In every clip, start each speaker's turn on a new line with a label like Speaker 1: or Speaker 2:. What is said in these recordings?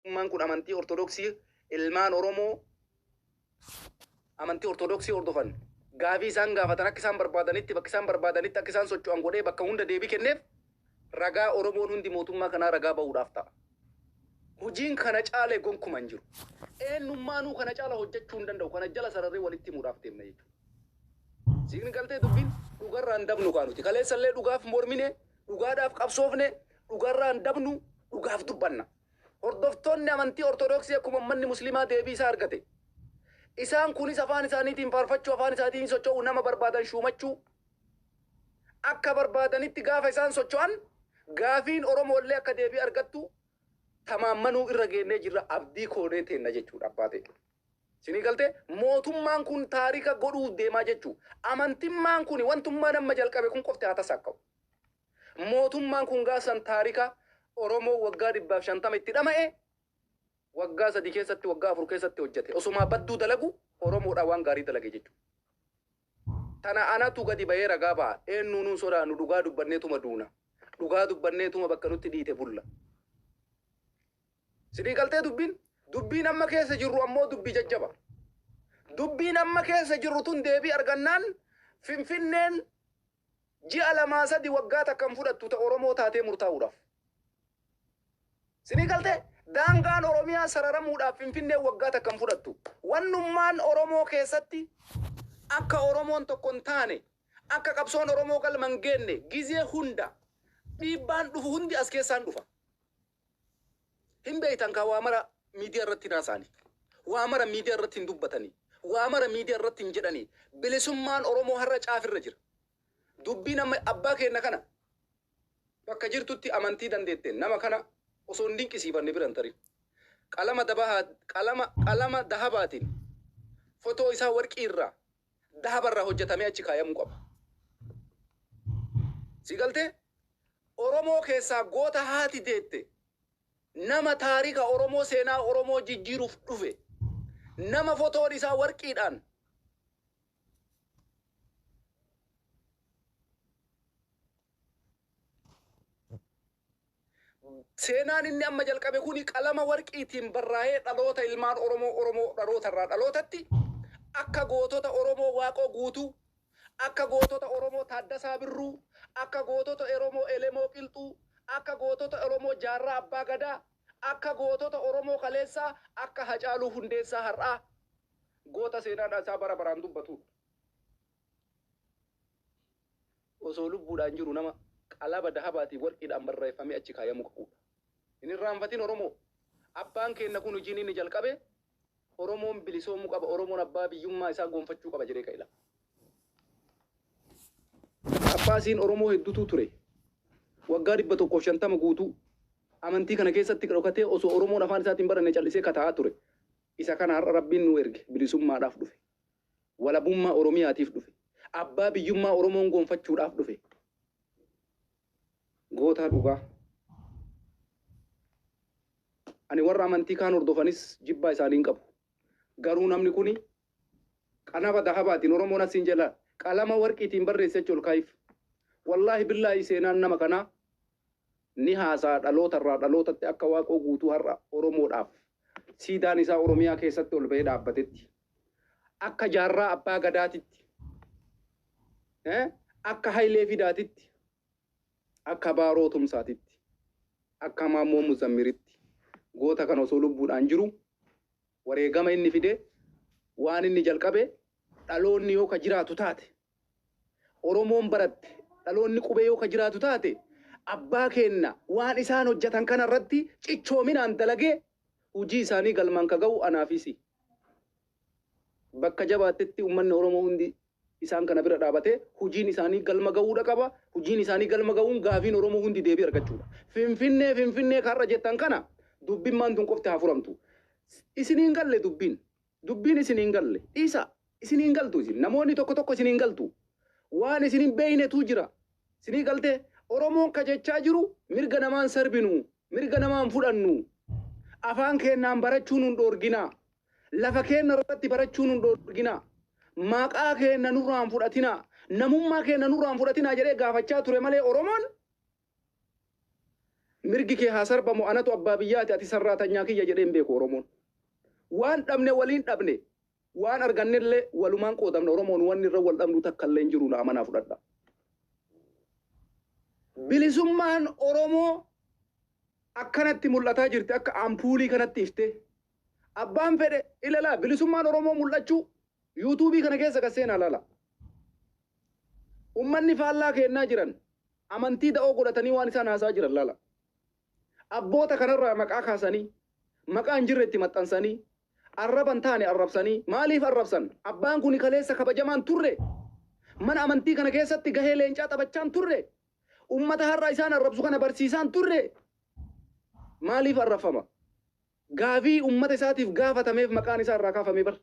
Speaker 1: Mootummaan kun amantii Ortodoksii ilmaan Oromoo amantii Ortodoksii hordofan gaafii isaan gaafatan akka isaan barbaadanitti bakka isaan barbaadanitti akka isaan socho'an godhee bakka hunda deebii kenneef ragaa Oromoon hundi mootummaa kanaa ragaa ba'uudhaaf ta'a. Hojiin kana caale gonkuma hin jiru. Eenyummaanuu kana caala hojjechuu hin danda'u. Kana jala sararree walitti himuudhaaf deemna jechuudha. Siigni galtee dubbiin dhugarraan dabnu kaanuti. Kaleessallee dhugaaf mormine Dhugaadhaaf qabsoofne, dhugarraa hin dabnu, dhugaaf dubbanna. Hordoftoonni amantii Ortodoksii akkuma ummanni Muslimaa deebii isaa argate. Isaan kunis afaan isaaniitiin faarfachuu, afaan isaatiin socho'uu, nama barbaadan shuumachuu akka barbaadanitti gaafa isaan socho'an gaafiin Oromoollee akka deebii argattu tamaammanuu irra geennee jirra, abdii koonee teenna jechuudha abbaa ta'e. Sinii galtee? Mootummaan kun taarika godhuuf deemaa jechuu. Amantimmaan kuni wantummaan amma jalqabe kun qofti haa tasaakka'u. Mootummaan kun gaaf san taarika Oromoo waggaa dhibbaaf shantama itti dhama'e waggaa sadii keessatti waggaa afur keessatti hojjate. Osomaa badduu dalagu Oromoodhaa waan gaarii dalage jechuu. Tana anatu gadi bahee ragaa baha. Eennuunuu hin sodaannu dhugaa dubbanneetuma duuna. Dhugaa dubbanneetuma bakka nutti dhiite bulla. Sinii galtee dubbiin? Dubbiin amma keessa jirru ammoo dubbii jajjaba. Dubbiin amma keessa jirru tun deebii argannaan Finfinneen ji'a lamaa sadi waggaa takka hin fudhattu ta Oromoo taatee murtaa'uudhaaf. Sinii galtee? Daangaan Oromiyaa sararamuudhaaf Finfinneen waggaa takka hin fudhattu. Wannummaan Oromoo keessatti akka Oromoon tokko hin taane, akka qabsoon Oromoo galma hin geenne gizee hunda dhiibbaan dhufu hundi as keessaan dhufa. Hin beeytan kaa waa mara miidiyaa irratti hin haasaani. Waa mara miidiyaa irratti hin dubbatani. Waa mara miidiyaa irratti hin jedhani. Bilisummaan Oromoo har'a caaf irra jira. Dubbiin amma abbaa keenna kana bakka jirtutti amantii dandeetteen nama kana osoo hin dinqisiifanne bira hin tarin. Qalama dabahaa qalama qalama dahabaatiin fotoo isaa warqii irraa dahaba irraa hojjatamee achi kaayamuu qaba. Si galtee? Oromoo keessaa goota haati deette, nama taarika Oromoo, seenaa Oromoo jijjiiruuf dhufe, nama fotoon isaa warqiidhaan Seenaan inni amma jalqabe kuni qalama warqiitiin barraa'ee dhaloota ilmaan Oromoo Oromoo dhaloota irraa dhalootatti akka gootota Oromoo Waaqoo Guutuu, akka gootota Oromoo Taaddasaa Birruu, akka gootota Oromoo Elemoo Qilxuu, akka gootota Oromoo Jaarraa Abbaa Gadaa, akka gootota Oromoo kaleessaa akka Hacaaluu Hundeessaa har'aa goota seenaan isaa bara baraan dubbatuudha. osoo lubbuudhaan jiru nama qalaba dahabaa fi warqiidhaan barraeffamee achi kaayamuu qabuu dha. Hin irraanfatin Oromoo! Abbaan keenna kun hujiin inni jalqabe Oromoon bilisoomuu qaba, Oromoon abbaa biyyummaa isaa goonfachuu qaba jedhee ka'e lafa. Phaaphaasiin Oromoo heddutuu ture. Waggaa 150 guutuu amantii kana keessatti dhokatee osoo Oromoon afaan isaatiin baranne cal'isee ka taa'aa ture. Isa kana har'a Rabbiin nuu erge bilisummaadhaaf dhufe. Walabummaa Oromiyaatiif dhufe. Abbaa biyyummaa Oromoon goonfachuudhaaf dhufe. Gootaa dhugaa. Ani warra amantii kaan hordofanis jibbaa isaanii hin qabu. Garuu namni kuni qanaba dahabaatiin Oromoon asiin jala qalama warqiitiin barreesse achi ol kaa'iif. Wallaahi billaahi seenaan nama kanaa ni haasa'a dhaloota irraa dhalootatti akka Waaqoo Guutuu har'a Oromoodhaaf siidaan isaa Oromiyaa keessatti ol ba'ee dhaabbatetti. akka Jaarraa Abbaa Gadaatitti, akka Hayilee Fidaatitti, akka Baaroo Tumsaatitti, akka Maammoo Muzammiritti goota kana osoo lubbuudhaan jiru wareegama inni fide waan inni jalqabe dhaloonni yoo ka jiraatu taate Oromoon baratte dhaloonni qubee yoo ka jiraatu taate abbaa keenna waan isaan hojjatan kana irratti cichoominaan dalagee hujii isaanii galmaan ka gahu anaa fi si. Bakka jabaattetti ummanni Oromoo hundi isaan kana bira dhaabatee hujiin isaanii galma gahuudha qaba. Hujiin isaanii galma gahuun gaafiin Oromoo hundi deebii argachuudha. Finfinnee Finfinnee ka har'a jettan kana dubbimmaan tun qofti haa furamtu. Isin hin galle dubbiin. Dubbiin isin hin galle. Dhiisa! Isin hin galtu isin. Namoonni tokko tokko isin hin galtu. Waan isin hin beeynetu jira. Isinii galtee? Oromoon ka jechaa jiru mirga namaa hin sarbinu, mirga namaa hin fudhannu, afaan keennaan barachuu nun dhoorginaa, lafa keenna irratti barachuu nun dhoorginaa, maqaa keenna nurraa hin fudhatinaa, namummaa keenna nurraa hin fudhatinaa jedhee gaafachaa ture malee Oromoon Mirgi kee haa sarbamu anatu abbaa biyyaati ati sarraatanyaa kiyya jedhee hin beeku Oromoon. Waan dhabne waliin dhabne, waan argannellee walumaan qoodamna Oromoon wanni irra wal dhabnu takkallee hin jiru na amanaa fudhadhaa. Bilisummaan Oromoo akkanatti mul'ataa jirti akka ampuulii kanatti iftee. Abbaan fedhe ilalaa bilisummaan Oromoo mul'achuu yuutuubii kana keessa gad seenaa ilaalaa. Ummanni faallaa keennaa jiran amantii da'oo godhatanii waan isaan haasa'aa jiran laalaa. Abboota kanarraa maqaa kaasanii, maqaa hin jirre itti maxxansanii, arraba hin taane arrabsanii, maaliif arrabsan? Abbaan kuni kaleessa kabajamaa hin turre? Mana amantii kana keessatti gahee leencaa taphachaa hin turre? Ummata har'a isaan arrabsu kana barsiisaa hin turre? Maaliif arrabfama? Gaafii ummata isaatiif gaafatameef maqaan isaa irraa kaafame bar.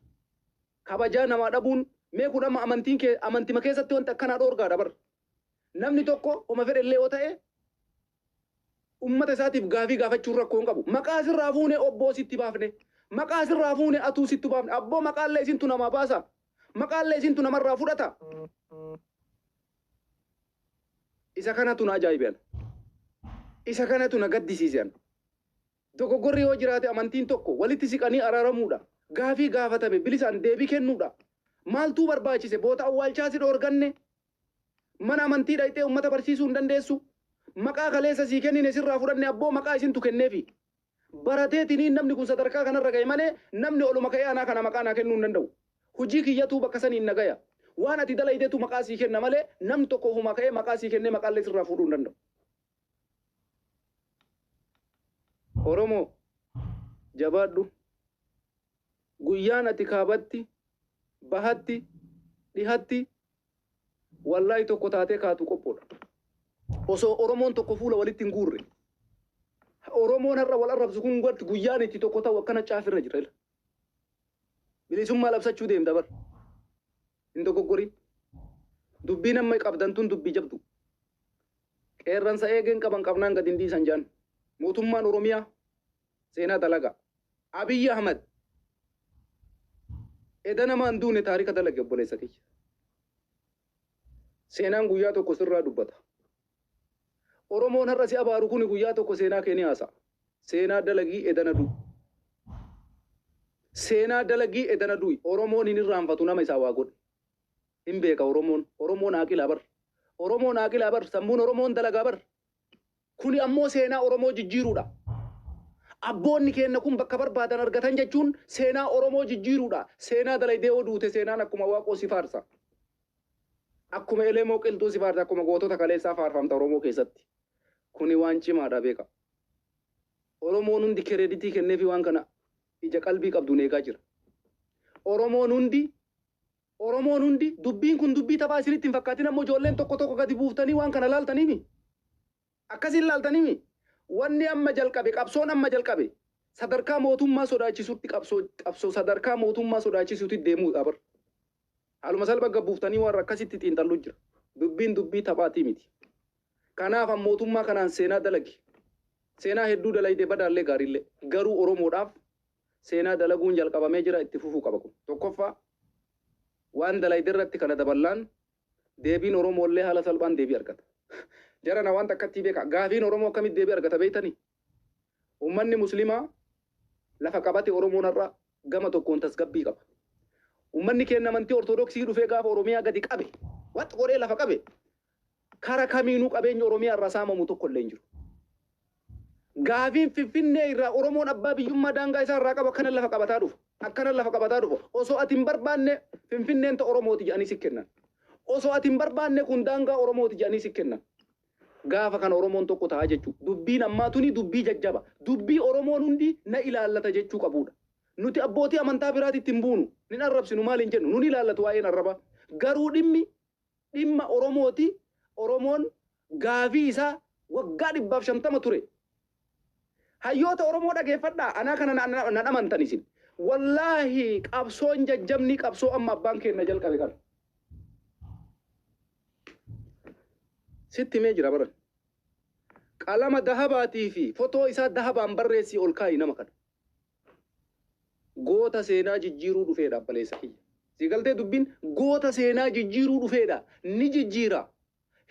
Speaker 1: Kabajaa namaa dhabuun mee kun amma amantiin kee amantima keessatti wanti akkanaa dhoorgaadha bar. Namni tokko homa fedhe illee yoo ta'e ummata isaatiif gaafii gaafachuun rakkoo hin qabu. Maqaa sirraa fuune obboo sitti baafne. Maqaa sirraa fuune atuu sittu baafne. Abboo maqaa illee isintu namaa baasa. Maqaa illee isintu namarraa fudhata. Isa kanatu na ajaa'ibe ana. Isa kanatu na gaddisiise ana. Dogoggorri yoo jiraate amantiin tokko walitti siqanii araaramuudha. Gaafii gaafatame bilisaan deebii kennuudha. Maaltuu barbaachise boota awwaalchaa si dhoorganne? Mana amantii dhayxee ummata barsiisuu hin dandeessu? Maqaa kaleessa sii kennine sirraa fudhanne abboo maqaa isintu kenneefi. Barateetiniin namni kun sadarkaa kanarra gahe malee namni oluma ka'ee anaa kana maqaa naa kennuu hin danda'u. Hujii kiyyatuu bakka saniin na gaya. Waan ati dalaydetu maqaa sii kenna malee namni tokko ofumaa ka'ee maqaa sii kennee maqaallee sirraa fuudhuu hin danda'u. Oromoo jabaadhu guyyaan ati kaabatti bahatti dhihatti wallaahi tokko taatee kaatu qophoodha osoo oromoon tokko fuula walitti hin guurre oromoon har'a wal arrabsu kun gatti guyyaan itti tokko ta'u akkana caafirra jira bilisummaa labsachuu deemta bar Hin dogoggorin. Dubbiin amma qabdan tun dubbii jabdu. Qeerransa eegeen qaban qabnaan gad hin dhiisan jaan. Mootummaan Oromiyaa seenaa dalaga. Abiy Ahmed eda nama hin duune taarika dalage obboleessa kiyya. Seenaan guyyaa tokko sirraa dubbata. Oromoon har'a si abaaru kuni guyyaa tokko seenaa kee ni haasa'a. Seenaa dalagii edana du'i. Seenaa dalagii edana du'i. Oromoon hin irraanfatu nama isaa waa godhe. Hin beeka Oromoon. Oromoon aaqilaa bar. Oromoon aaqilaa bar. Sammuun Oromoon dalagaa bar. Kuni ammoo seenaa Oromoo jijjiiruudha. Abboonni keenna kun bakka barbaadan argatan jechuun seenaa Oromoo jijjiiruudha. Seenaa dalaydee yoo duute seenaan akkuma waaqoo si faarsa. Akkuma Elemoo qilxuu si faarse akkuma gootota kaleessaa faarfamta Oromoo keessatti. Kuni waan cimaadha beekaa. Oromoon hundi kereeditii kenneefii waan kana ija qalbii qabduun eegaa jira. Oromoon hundi Oromoon hundi dubbiin kun dubbii taphaa isinitti hin fakkaatin ammoo ijoolleen tokko tokko gadi buuftanii waan kana laaltaniimi. Akkasi hin laaltanimi? Wanni amma jalqabe, qabsoon amma jalqabe, sadarkaa mootummaa sodaachisutti qabsoo, qabsoo sadarkaa mootummaa sodaachisuti deemuudha bar. Haaluma salphan gad buuftanii warra akkasitti xiinxallu jira. Dubbiin dubbii taphaatii miti. Kanaaf an mootummaa kanaan seenaa dalagi. Seenaa hedduu dalayde badaallee gaariillee. Garuu Oromoodhaaf seenaa dalaguun jalqabamee jira itti fufuu qaba kun. Tokkoffaa waan dalayde irratti kana daballaan Deebiin Oromoo illee haala salphaan deebii argata. Jarana waan takkattii beekaa. Gaafiin Oromoo akkamitti deebii argata beektanii? Ummanni Muslimaa lafa qabate Oromoon har'a gama tokkoon tasgabbii qaba. Ummanni keenna amantii Ortodoksii dhufee gaafa Oromiyaa gadi qabe, wax godhee lafa qabe, kara kamiinuu qabeenyi Oromiyaa irraa saamamu tokko illee hin jiru. Gaafiin Finfinnee irraa Oromoon abbaa biyyummaa daangaa isaa irraa qabu akkanan lafa qabataa dhufa. Akkanan lafa qabataa dhufa. Osoo ati hin barbaanne Finfinneen ta Oromooti jedhanii si kennan. Osoo ati hin barbaanne kun daangaa Oromooti jedhanii si kennan. Gaafa kana Oromoon tokko ta'a jechuu. Dubbiin ammaa tuni dubbii jajjaba. Dubbii Oromoon hundi na ilaallata jechuu qabuudha. Nuti abbootii amantaa biraatitti hin buunu. Nin arrabsinu maal hin jennu. Nun ilaallatu waa'een arrabaa. Garuu dhimmi dhimma Oromooti, Oromoon gaafii isaa waggaa dhibbaaf shantama ture. Hayyoota Oromoo dhageeffadhaa, anaa kana nan amantan isin. Wallaahi qabsoon jajjabnii qabsoo amma abbaan keenna jalqabe kana. Sitti himee jira baran. Qalama dahabaatii fi fotoo isaa dahabaan barreessii ol kaa'i nama kana. Goota seenaa jijjiiruu dhufeedha abbaleessa kiyya. Sii galtee dubbiin? Goota seenaa jijjiiruu dhufeedha. Ni jijjiira.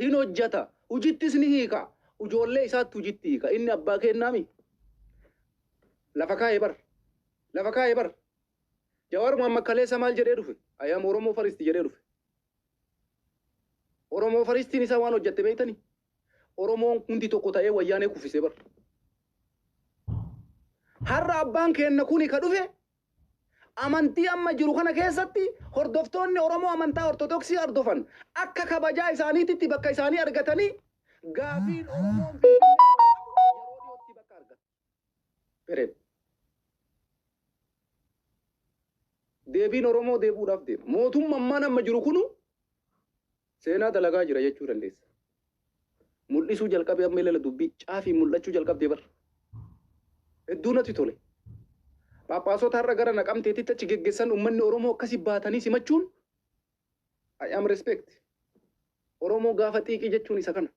Speaker 1: Hin hojjata. Hujittis ni hiika. Ujoollee isaatti hujitti hiika. Inni abbaa keennaami? Lafa kaaye bar. Lafa kaaye bar. Jawaar Mohammed kaleessa maal jedhee dhufe? I am Oromoo first jedhee dhufe. Oromoo firstiin isaa waan hojjatte beektanii? Oromoon hundi tokko ta'ee wayyaanee kuffisee bar. Har'a abbaan keenna kuni ka dhufe amantii amma jiru kana keessatti hordoftoonni Oromoo amantaa Ortodoksii hordofan akka kabajaa isaaniititti bakka isaanii argatanii gaafiin Oromoon Finfinnee irraa qabu yeroo dhiyootti bakka argata. Period. Deebiin Oromoo deebi'uudhaaf deema. Mootumma ammaan amma jiru kunu seenaa dalagaa jira jechuu dandeessa. Mul'isuu jalqabee amma ilala dubbii caafiin mul'achuu jalqabdee bar. Hedduu natti tole. Phaaphaasota har'a gara naqamteetitti achi geggessan uummanni Oromoo akkasi baatanii simachuun I am respect. Oromoo gaafa xiiqii jechuun isa kana.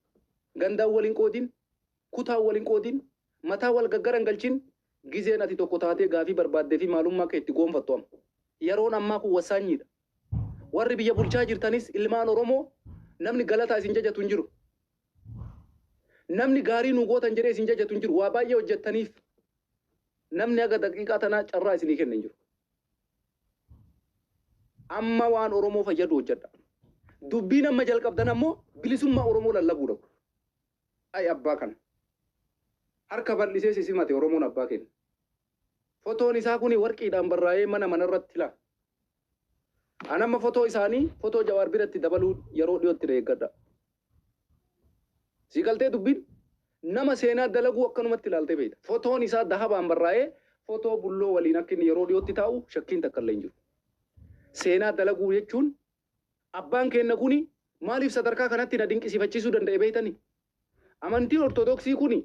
Speaker 1: Gandaan wal hin qoodin, kutaan wal hin qoodin, mataa wal gaggara hin galchin, gizeen ati tokko taatee gaafii barbaaddee fi maalummaa kee itti goonfattu amma. Yeroon ammaa kun wassaanyii dha. Warri biyya bulchaa jirtanis ilmaan Oromoo namni galataa isin jajatu hin jiru. Namni gaarii nuu gootan jedhee isin jajatu hin jiru. Waa baay'ee hojjettaniif namni haga daqiiqaa tanaa carraa isinii kenne hin jiru. Amma waan Oromoo fayyadu hojjadha. Dubbiin amma jalqabdan ammoo bilisummaa Oromoo lallabuudha. Ay abbaa kana. Harka bal'isee si simate Oromoon abbaa keenya. Fotoon isaa kuni warqiidhaan barraa'ee mana mana irratti laa. An amma fotoo isaanii fotoo Jawaar biratti dabaluu yeroo dhiyootti na eeggadha. Sii galtee dubbiin? Nama seenaa dalaguu akkanumatti ilaaltee beekta. Fotoon isaa dahabaan barraa'ee fotoo Bulloo waliin akka inni yeroo dhiyootti taa'u shakkiin takka illee hin jiru. Seenaa dalaguu jechuun abbaan keenna kuni maaliif sadarkaa kanatti na dinqisiifachiisuu danda'e beektani? Amantiin Ortodoksii kuni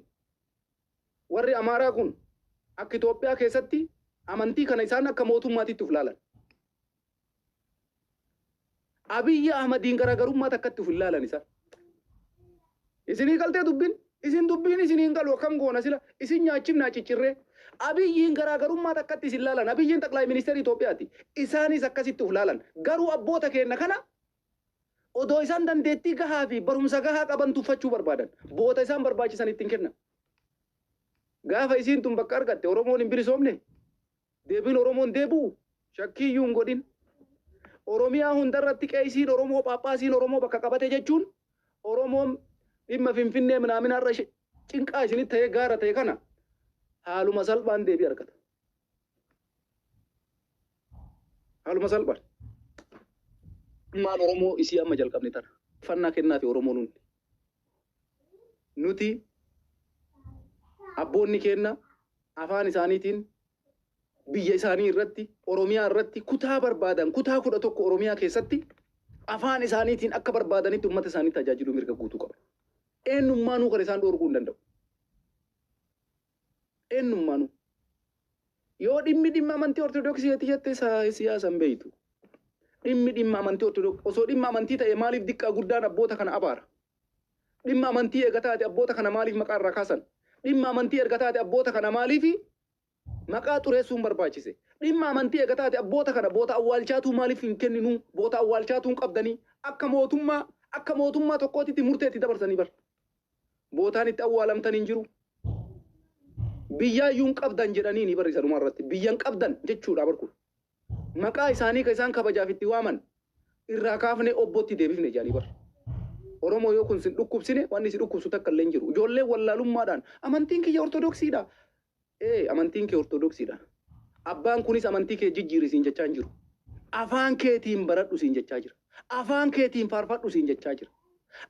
Speaker 1: warri Amaaraa kun akka Itoophiyaa keessatti amantii kana isaan akka mootummaatitti of ilaalan. Abiy Ahmadiin garaagarummaa takkatti of hin laalan isaan. Isinii galtee dubbin? Isin dubbiin isinii hin galu akkam goona sila? Isin nyaachifnaa ciccirree. Abiyyiin garaagarummaa takkatti isin laalan. Abiyyiin xaqlaay ministeera Itoophiyaati. Isaanis akkasitti of laalan. Garuu abboota keenya kana odoo isaan dandeettii gahaa fi barumsa gahaa qaban tuffachuu barbaadan. Boota isaan barbaachisan ittiin kennan. Gaafa isiin tun bakka argatte Oromoon hin bilisoomne. Deebiin Oromoon deebi'u shakkii iyyuu hin godhin. Oromiyaa hunda irratti qeesiin Oromoo, phaaphaasiin Oromoo bakka qabate jechuun Oromoon dhimma Finfinnee minaaminaa irra ishe- cinqaa isinitti ta'ee gaara ta'e kana haaluma salphaan deebii argata. Haaluma salphaan. Ilmaan Oromoo isii amma jalqabne tana. Fannaa kennaafi Oromoon hundi. nuti abboonni keenna afaan isaaniitiin biyya isaanii irratti, Oromiyaa irratti kutaa barbaadan, kutaa 11 Oromiyaa keessatti afaan isaaniitiin akka barbaadanitti ummata isaanii tajaajiluu mirga guutuu qabu. Eenyummaanuu kan isaan dhoorguu hin danda'u. Eenyummaanu. Yoo dhimmi dhimma amantii Ortodoksii ati jette siyaasa hin beektu. Dhimmi dhimma amantii Ortodoksii osoo dhimma amantii ta'e maaliif diqqaa guddaan abboota kana abaara? Dhimma amantii eega taate abboota kana maaliif maqaa irraa kaasan? Dhimma amantii erga taate abboota kana maaliif maqaa xureessuun barbaachise? Dhimma amantii eega taate abboota kana boota awwaalchaatuu maaliif hin kenninuu? Boota awwaalchaatuu hin qabdanii? Akka mootummaa akka mootummaa tokkootitti murtee itti dabarsanii bar. Bootaan itti awwaalamtan hin jiru. Biyyaayyuu hin qabdan jedhaniini bar isa dhumaa irratti. Biyya hin qabdan jechuudha bar kun. Maqaa isaanii kan isaan kabajaaf itti waaman irraa kaafnee obbootti deebifne jedhanii bar. Oromoo yoo kun sin dhukkubsine wanni si dhukkubsu takka illee hin jiru. Ijoolleen wallaalummaadhaan amantiin kiyya ortodoksiidha. Ee, amantiin kee Ortodoksii dha. Abbaan kunis amantii kee jijjiiri siin jechaa hin jiru. Afaan keetiin baradhu siin jechaa jira. Afaan keetiin faarfadhu siin jechaa jira.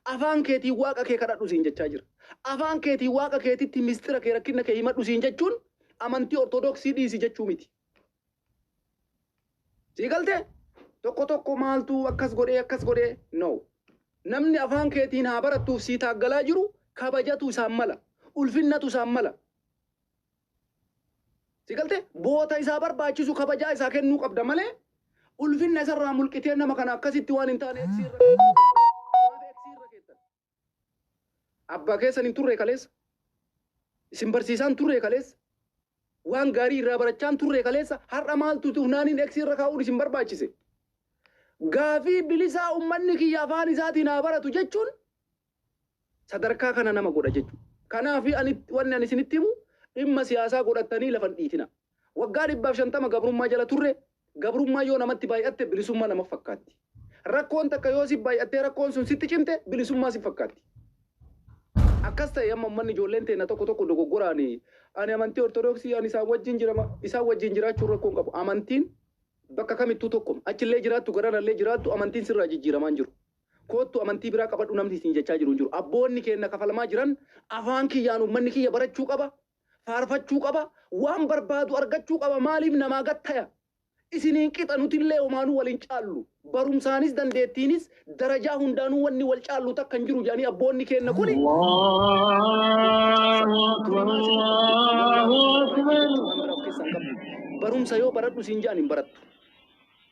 Speaker 1: Afaan keetiin Waaqa kee kadhadhu siin jechaa jira. Afaan keetiin Waaqa keetitti mistira kee rakkinna kee himadhu siin jechuun amantii Ortodoksii dhiisi jechuu miti. Sii galtee? Tokko tokko maaltu akkas godhee akkas godhee no. Namni afaan keetiin haa barattuuf sii taaggalaa jiru kabajatu isaan mala. Ulfinnatu isaan mala. Si galtee? Boota isaa barbaachisu kabajaa isaa kennuu qabda malee ulfinna isarraa mulqitee nama kana akkasitti waan hin taane eegsii irra keessan. Maaf eegsii irra keessan? Abbaa keessan hin turre kaleessa. Isin barsiisaan turre kaleessa. Waan gaarii irraa barachaan turre kaleessa har'a maaltu tunaaniin eegsii irra kaa'uun isin barbaachise. Gaafii bilisaa ummanni kiyya afaan isaatiin haa baratu jechuun sadarkaa kana nama godha jechu. Kanaafi ani wanni ani isinitti himu dhimma siyaasaa godhattanii lafa hin dhiitinaa. Waggaa dhibbaaf shantama gabrummaa jala turre, gabrummaan yoo namatti baay'atte bilisummaa nama fakkaatti. Rakkoon takka yoo si baay'attee rakkoon sun sitti cimte bilisummaa si fakkaatti. Akkas ta'e amma ummanni ijoolleen teenna tokko tokko dogoggoraan ani amantii ortodoksii ani isaan wajjin jirama isaan wajjin jiraachuun rakkoo hin qabu. Amantiin bakka kamittuu tokkuma. Achillee jiraattu garanallee jiraattu amantiin sirraa jijjiiramaa hin jiru. Koottu amantii biraa qabadhu namni isin jechaa jiru hin jiru. Abboonni keenna kafalamaa jiran afaan kiyyaan ummanni kiyya barachuu qaba, faarfachuu qaba, waan barbaadu argachuu qaba maaliif namaa gad taya? Isiniin qixa nutillee homaanuu wal hin caallu. Barumsaanis dandeettiinis darajaa hundaanuu wanni wal caallu takka hin jiru jedhanii abboonni keenna kuni Allahu Akbar, Allahu Akbar. Waan biraa of keessaa hin qabdu. Barumsa yoo baradhu siin jedhan hin barattu.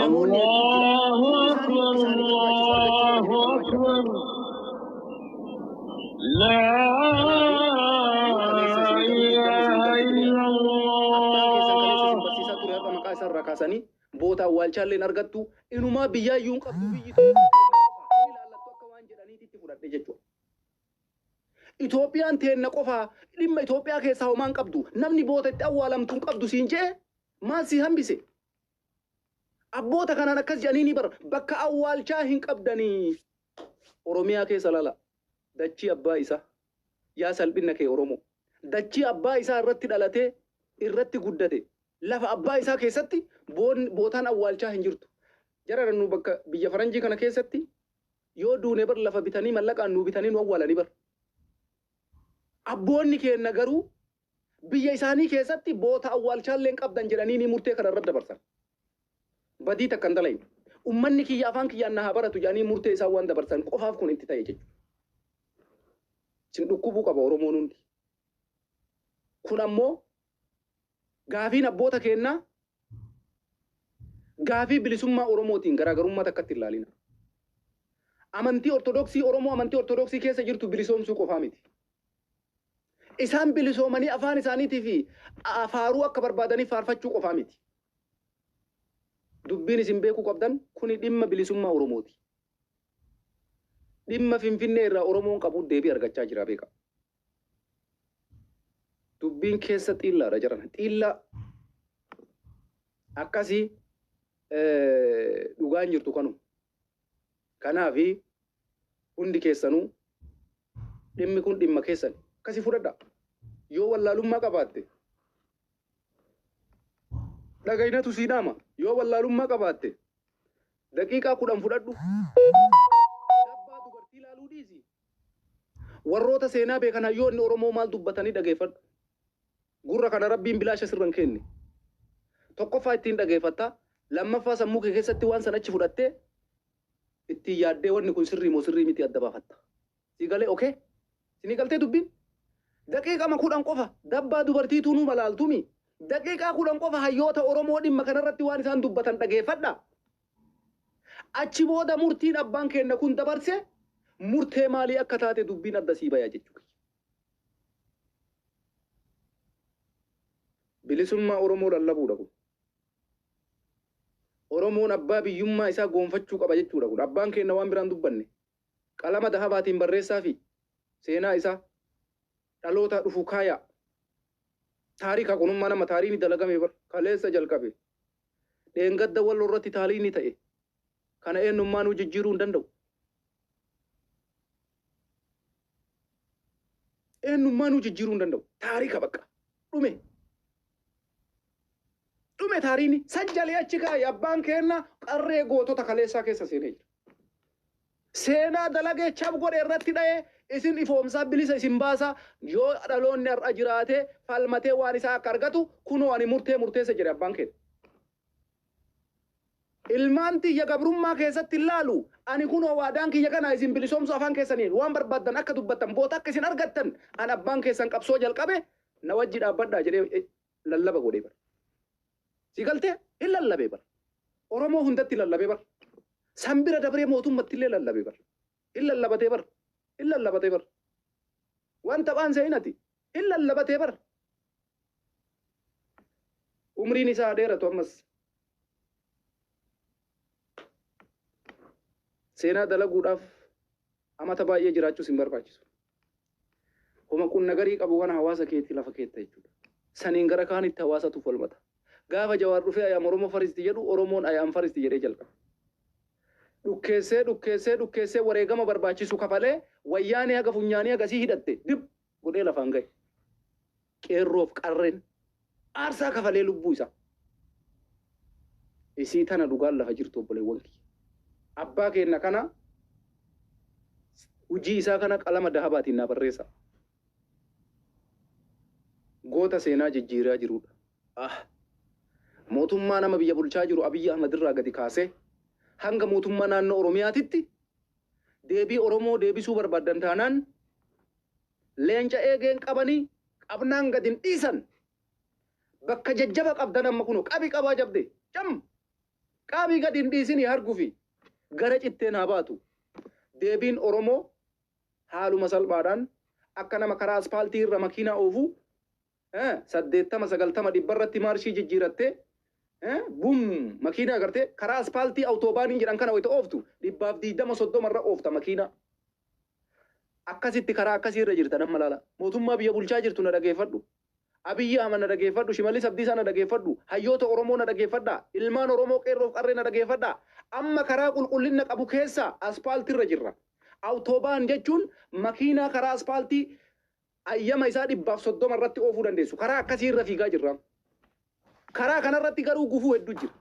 Speaker 1: Namoonni hedduun jira. Allahu Isaanii barbaachisaa Allahu jechuun nama jira. Akbar. La ilaha illallah. barsiisaa ture har'a maqaa isaa irraa kaasanii boota awwaalchaallee hin argattu inumaa biyyaa iyyuu hin qabdu biyyi ta'e ilaallattu akka waan jedhaniitti itti fudhadhe jechuudha. Itoophiyaan teenna qofaa dhimma Itoophiyaa keessaa homaa hin qabdu namni boota itti awwaalamtu hin qabdu siin jee maal si hambise Abboota kanaan akkas jedhaniinii bar bakka awwaalchaa hin qabdanii. Oromiyaa keessa lala dachii abbaa isaa. Yaa salphinna kee Oromoo. Dachii abbaa isaa irratti dhalatee irratti guddate lafa abbaa isaa keessatti bootaan awwaalchaa hin jirtu. Jarana nu bakka biyya faranjii kana keessatti yoo duune bar lafa bitanii mallaqaan nuu bitanii nu awwaalanii bar. Abboonni keenna garuu biyya isaanii keessatti boota awwaalchaa illee hin qabdan jedhaniinii murtee kana irra dabarsan. Badii takka hin dalayne. Ummanni kiyya afaan kiyyaan na haa baratu jedhanii murtee isaan waan dabarsan qofaaf kun itti ta'e jechuudha. Sin dhukkubuu qaba Oromoon hundi. Kun ammoo gaafiin abboota keennaa gaafii bilisummaa Oromootiin garaagarummaa takkatti hin ilaalina. Amantii Ortodoksii Oromoo amantii Ortodoksii keessa jirtu bilisoomsuu qofaa miti. Isaan bilisoomanii afaan isaaniitii fi faaruu akka barbaadaniif faarfachuu qofaa miti. Dubbiin isin beekuu qabdan kuni dhimma bilisummaa Oromooti. Dhimma Finfinnee irraa Oromoon qabu deebii argachaa jira beekaa. Dubbiin keessa xiillaadha jedhan. Xiillaa akkasii dhugaan jirtu kanuma. Kanaafi hundi keessanuu Dhimmi kun dhimma keessani. Akkasi fudhadha. Yoo wallaalummaa qabaatte dhagaynatu sii dhaama. Yoo wallaalummaa qabaatte daqiiqaa kudhan fudhadhu. Dabbaa dubartii ilaaluu dhiisi. Warroota seenaa beekan hayyoonni Oromoo maal dubbatanii dhageeffadhu. Gurra kana rabbiin bilaasha sirran kenne. Tokkoffaa ittiin dhageeffatta. Lammaffaa sammuu kee keessatti waan san achi fudhattee ittiin yaaddee wanni kun sirrii moo sirrii miti adda baafatta. Sii galee okay? Sinii galtee dubbiin? Daqiiqama kudhan qofa dabbaa dubartii tunuu malaaltumii? Daqiiqaa kudhan qofa hayyoota Oromoo dhimma kanarratti waan isaan dubbatan dhageeffadhaa. Achi booda murtiin abbaan keenna kun dabarse murtee maalii akka taate dubbiin adda sii baya jechuu kiyya. Bilisummaa Oromoo lallabuudha kun. Oromoon abbaa biyyummaa isaa goonfachuu qaba jechuudha kun. Abbaan keenna waan biraa hin dubbanne. Qalama dahabaatiin barreessaafii seenaa isaa dhalootaa dhufu kaayaa. Taarika kun umma nama taariini dalagame bar. Kaleessa jalqabe. Dheengadda walloo irratti taariini ta'e. Kana eennummaanuu jijjiiruu hin danda'u. Eennummaanuu jijjiiruu hin danda'u. Taarika bakka. Dhume. Dhume taariini sajjalee achi kaayi abbaan keenna qarree gootota kaleessaa keessa seenee jira. Seenaa dalagee chab godhe irratti dha'ee isin ifoomsaa bilisa isin baasaa yoo dhaloonni har'a jiraatee falmatee waan isaa akka argatu kunoo ani murtee murteessa jedhe abbaan keenna. Ilmaan tiyya gabrummaa keessatti hin laalu. Ani kunoo waadaan kiyya kanaa isin bilisoomsuu afaan keessaniin waan barbaaddan akka dubbattan boota akka isin argattan an abbaan keessan qabsoo jalqabe na wajji dhaabbadhaa jedhee lallaba godhee bar. Si galtee? Hin lallabee bar. Oromoo hundatti lallabee bar. San bira dabree mootummatti illee lallabee bar. Hin lallabatee bar. Hin lallabatee bar. Waan taphaan seenati. Hin lallabatee bar. Umriin isaa haa dheeratu ammas. Seenaa dalaguudhaaf amata baay'ee jiraachuu sin barbaachisu. Homa qunna garii qabu kana hawaasa keetii lafa keetta jechuudha. Saniin gara kaanitti hawaasatu falmata. Gaafa Jawaar dhufee I am Oromo first jedhu Oromoon I am first jedhee jalqabe. Dhukkeessee dhukkeessee dhukkeessee wareegama barbaachisu kafalee wayyaanee haga funyaanii hagasii hidhatte dib godhee lafaan gahe. Qeerroof qarreen aarsaa kafalee lubbuu isaa. Isii tana dhugaan lafa jirtu obboleewwan kiyya. Abbaa keenna kana hujii isaa kana qalama dahabaatiin naa barreessa. Goota seenaa jijjiiraa jirudha. Ah. Mootummaa nama biyya bulchaa jiru Abiyyi Ahmad irraa gadi kaasee hanga mootummaa naannoo Oromiyaatitti Deebii Oromoo deebisuu barbaaddan taanaan leenca eegeen qabanii qabnaan gad hin dhiisan. Bakka jajjaba qabdan amma kunoo qabi qabaa jabde cam qaabii gad hin dhiisinii hargufi gara citteen haa baatu. Deebiin Oromoo haaluma salphaadhaan akka nama karaa aspaaltii irra makiinaa oofuu eh, saddeettama sagaltama dhibba irratti maarshii jijjiirattee eh, bum makiinaa agartee karaa aspaaltii awutoobaaniin jedhan kana wayita ooftu dhibbaaf diidama soddoma irra oofta makiinaa. Akkasitti karaa akkasii irra jirtan amma laala. Mootummaa biyya bulchaa jirtu na dhageeffadhu. Abiyyi Ahmad na dhageeffadhu, Shimallis Abdiisaa na dhageeffadhu, hayyoota Oromoo na dhageeffadhaa, ilmaan Oromoo qeerroof qarree na dhageeffadhaa. Amma karaa qulqullina qabu keessaa aspaaltii irra jirra. Awutoobaan jechuun makiinaa karaa aspaaltii Hayyama isaa dhibbaaf soddoma irratti oofuu dandeessu. Karaa akkasii irra fiigaa jirra. Karaa kana irratti garuu gufuu hedduu jira.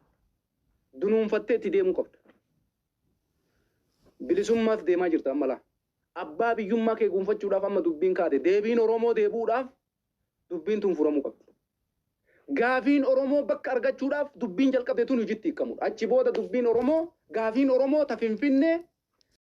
Speaker 1: Dunuunfattee itti deemuu qabda. Bilisummaaf deemaa jirta amma laa. Abbaa biyyummaa kee guunfachuudhaaf amma dubbiin kaate. Deebiin Oromoo deebi'uudhaaf dubbiin tun furamuu qabdi. Gaafiin Oromoo bakka argachuudhaaf dubbiin jalqabde tun hojitti hiikkamudha. Achi booda dubbiin Oromoo, gaafiin Oromoo ta Finfinnee